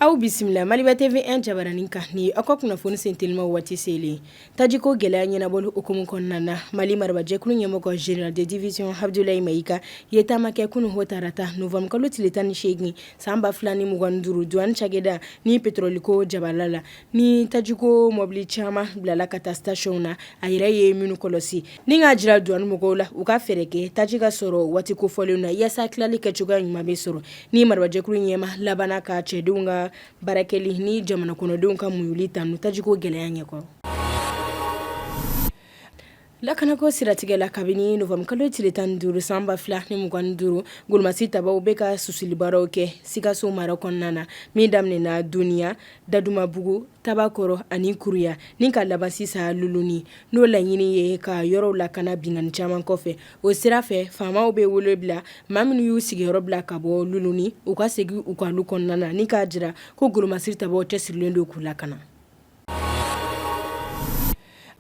Aw bisimila Maliba TV 1 jabaranin kan ni aw ka kunnafoni senteliman waati selen taji ko gɛlɛya ɲɛnabɔli hukumu kɔnɔna na mali marabajɛkulu ɲɛmɔgɔ général de division Abdoulaye Maïga ye taama kɛ kunun o tarata Novembre kalo tile tan ni segin san ba fila ni mugan duuru douane cakɛda ni petɔrɔliko jabala la ni tajiko mɔbili caman bilala ka taa station na a yɛrɛ ye minnu kɔlɔsi ni k'a jira douane mɔgɔw la u ka fɛɛrɛ kɛ taji ka sɔrɔ waati kofɔlen na yaasa tilali kɛ cogoya ɲuman bɛ sɔrɔ ni marabajɛkulu ɲɛmaa labanna ka cɛdenw ka baarakɛli ni jamana kɔnɔdenw ka muɲuli tanu tajiko gɛlɛya ɲɛkɔrɔ Lakanako siratigɛ la kabini Novembre kalo tile tan ni duuru san ba fila ni mugan ni duuru golomasiri tabaaw bɛ ka susulibaaraw kɛ Sikaso mara kɔnɔna na min daminɛna Doniya, Dadumabugu, Tabakɔrɔ ani Kuruya ni ka laban sisan Luluni n'o laɲini ye ka yɔrɔw lakana binkanni caman kɔfɛ o sira fɛ faamaw bɛ wele bila maa minnu y'u sigiyɔrɔ bila ka bɔ Luluni u ka segin u ka lu kɔnɔna na ni k'a jira ko golomasiri tabaaw cɛsirilen don k'u lakana.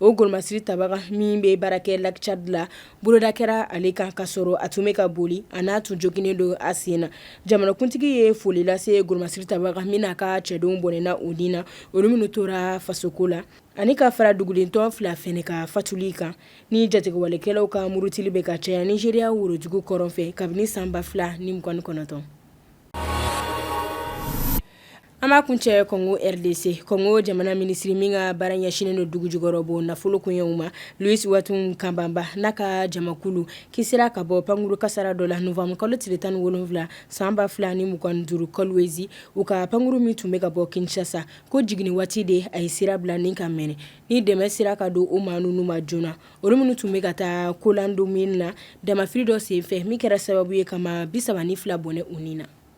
O golomasiri tabaga min bɛ baarakɛ Lac Tchad la boloda kɛra ale kan ka sɔrɔ a tun bɛ ka boli a n'a tun joginnen don a sen na jamanakuntigi ye foli lase golomasiri tabaga min n'a ka cɛdenw bɔnɛna u ni na olu minnu tora fasoko la ani ka fara dugulentɔn fila fana ka fatuli kan ni jatigiwalekɛlaw ka murutili bɛ ka caya Nigeria worodugu kɔrɔn fɛ kabini sanba fila ni mugan ni kɔnɔntɔn An b'a kuncɛ kɔngo RDC kɔngo jamana minisiri min ka baara ɲɛsinen don dugu jukɔrɔ bɔ nafolo koɲɛw ma Louis Watum Kabamba n'a ka jamakulu kisira ka bɔ pankurun kasara dɔ la Novembre kalo tile tan ni wolonwula sanba fila ni mugan duuru Kolwezi u ka pankurun min tun bɛ ka bɔ Kinshasa ko jigin waati de a ye sira bila ni ka mɛnɛ ni dɛmɛ sera ka don o maa ninnu ma joona olu minnu tun bɛ ka taa Kalando mine na damanfiri dɔ senfɛ min kɛra sababu ye ka maa bisaba ni fila bɔnɛ u ni na